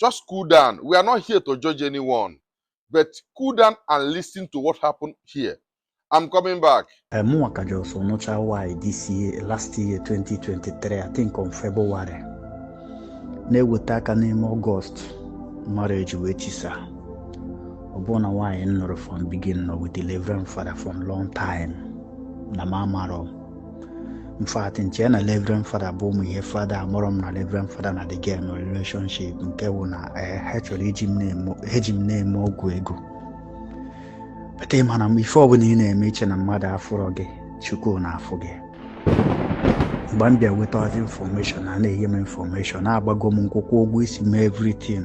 just cool down. We are not here to judge anyone, but cool down and listen to what happened here. I'm coming back. Eh, Mụnwa ka just nụcha nwaanyị this year, last year 2023, I think on February, na-eweta aka n'ime Ọgọst marriage wee chisa. Ọ bụ na nwaanyị m nụrụ from beginning with the Reverend Father from long time na m amarọ in fact m che na Reverend Fada bụ ụmụ ihe fada amarọ m na Reverend Fada na the girl nọ relationship nke bụ na eh, ha chọrọ iji m na-eme ọgwụ ego but ị ma na ife ọbụla ị na-eme iche na mmadụ afụrọ gị chukwu na-afụ gị mgbe m bịa wetazi information a na-enye m infọmeshọn na-agbago m nkwụkwọ ụgwọ isi m everything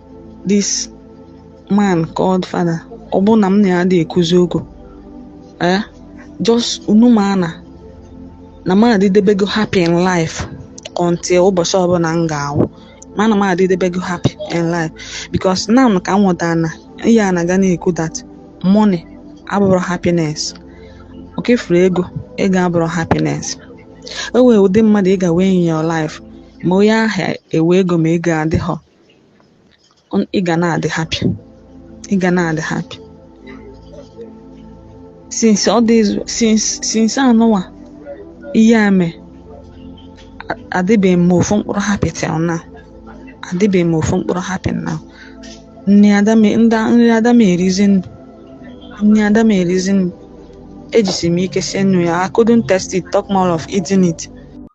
this man called father ọ bụ na m na ya adị ekwuzi okwu eh just unu ma na na m adịdebego happy in life until ụbọchị ọbụla m ga-anwụ ma na m adịdebego happy in life because now ka m wọtara na ihe a na-aga na-ekwu that money abụrọ happiness okay fụrụ ego ego abụrọ happiness o nwere ụdị mmadụ ị ga-enwe in your life ma onye ahụ enwe ego ma ego adịghọ On- ị ga na-adị happy ị ga na-adị happy since all these since since anụwa ihe a mee a- adịbeghị m ofu mkpụrụ happy till now adịbeghị m ofu mkpụrụ happy now nri ada m nda- nri ada m erizi m nri ada m erizi m ejisi m ike sie nri ụnyaa I couldn't taste it talk more of eating it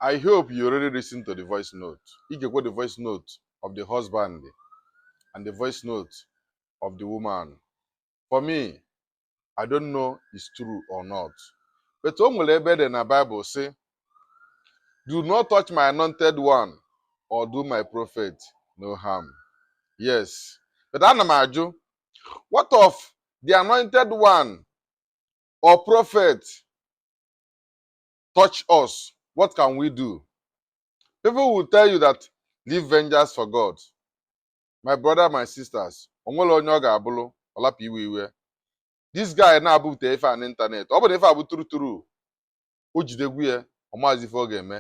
I hope you already listened to the voice note. ị ga-ekwe the voice note of the husband and the voice note of the woman for me i don't know is true or not but o nwere ebe dị na bible sị do not touch my anointed one or do my prophet no harm yes but ana m ajụ what of the anointed one or prophet touch us, what can we do? People will tell you that leave vengeance for God. My brother, my sisters, o nwere onye ọ ga-abụrụ ọ rapụ iwe iwe. This guy na-ebute ife a n'ịntanetị. Ọ bụ na ife a bụ true true, o jidego ya, ọ maazị ife ọ ga-eme.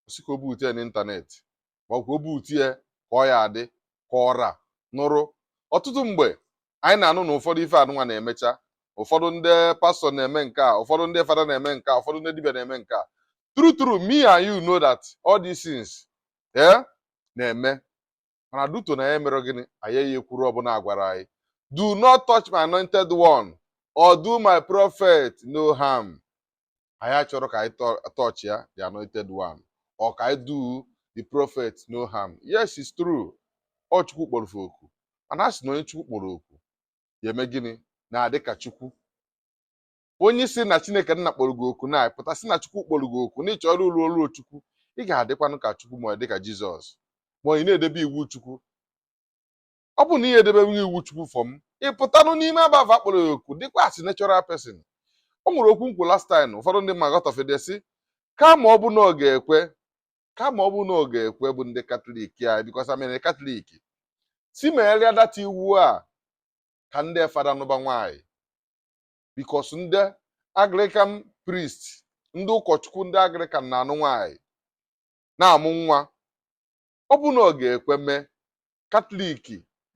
Ọ sị ka o bute ya n'ịntanetị. ka o bute ya ka ọ ya adị ka ọra nụrụ ọtụtụ mgbe anyị na-anụ na ụfọdụ ife anụnwa na-emecha ụfọdụ ndị pastọ na-eme nke a ụfọdụ ndị fada na-eme nke a ụfọdụ ndị dibịa na-eme nke a true true me and you know that all these things eh, na-eme mana due to na ya mere gịnị anyị ya ekwuru ọ bụ na a gwara anyị do not touch my anointed one or do my prophet no harm anyị achọrọ ka anyị touch ya the anointed one or ka anyị do the prophet no harm yes it's true ọ chukwu kpọrọ oku mana a sị na onye chukwu kpọrọ oku ya eme gịnị na-adị ka chukwu onye sị na chineke nna kpọrọ gị oku na ị pụta sị na chukwu kpọrọ gị oku na ị chọrọ ịlụ ọlụ chukwu ị ga-adịkwanụ ka chukwu ma ị dị ka jizọs ma ị na-edebe iwu chukwu ọ bụ na ihe edebeghị iwu chukwu fọm ịpụtanụ n'ime abava akpọrọ ya oku dịkwa as natural person o nwere okwu m kwu last time ụfọdụ ndị mmadụ got offended sị kama ọ bụ na ọ ga-ekwe kama ọ bụ na ọ ga-ekwe bụ ndị katọlik anyị because i'm a katọlik sị megharịa that iwu a ka ndị fada nụba nwaanyị because ndị anglican priest ndị ụkọchukwu ndị anglican na-anụ nwaanyị na-amụ nwa ọ bụrụ na ọ ga-ekwe mee katọlik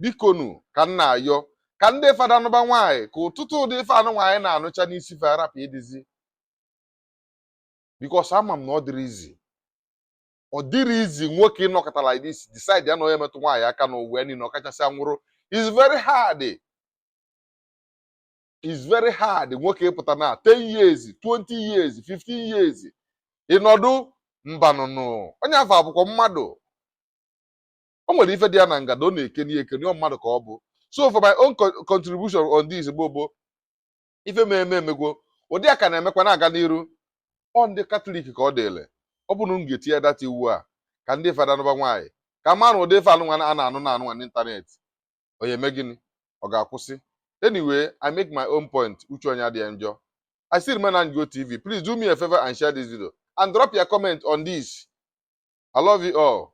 bikonu ka m na-ayọ ka ndị fada nụba nwaanyị ka ọtụtụ ụdị ife anụnwa anyị na-anụcha n'isi fa rapụ ịdịzi because ama m na ọ dịrọ easy ọ dịrọ easy nwoke ịnọkata like this decide ya na onye metụ nwaanyị aka n'ụwa ya niile ọkachasị anwụrụ is very hard is very hard nwoke ịpụta na 10 years 20 years 15 years ịnọdụ mbanụnụ onye afụ abụkwa mmadụ o nwere ife dị ya na ngada ọ na-ekeni ekeni ọ mmadụ ka ọ bụ so for my own co- contribution on this bụ bụ ife m eme emegwo ụdị a ka na-emekwa na-aga n'iru ọ ndị katọlik ka ọ dịlị ọ bụrụ m ga-etinye that iwu a ka ndị fada nụba nwaanyị ka mara ụdị ife anụnwa a na-anụ na anụnwa n'ịntanetị ọ ya-eme gịnị ọ ga-akwụsị anyway i make my own point uche onye adịghị njọ i still remain anjo tv please do me a favor and share this video and drop your comment on this i love you all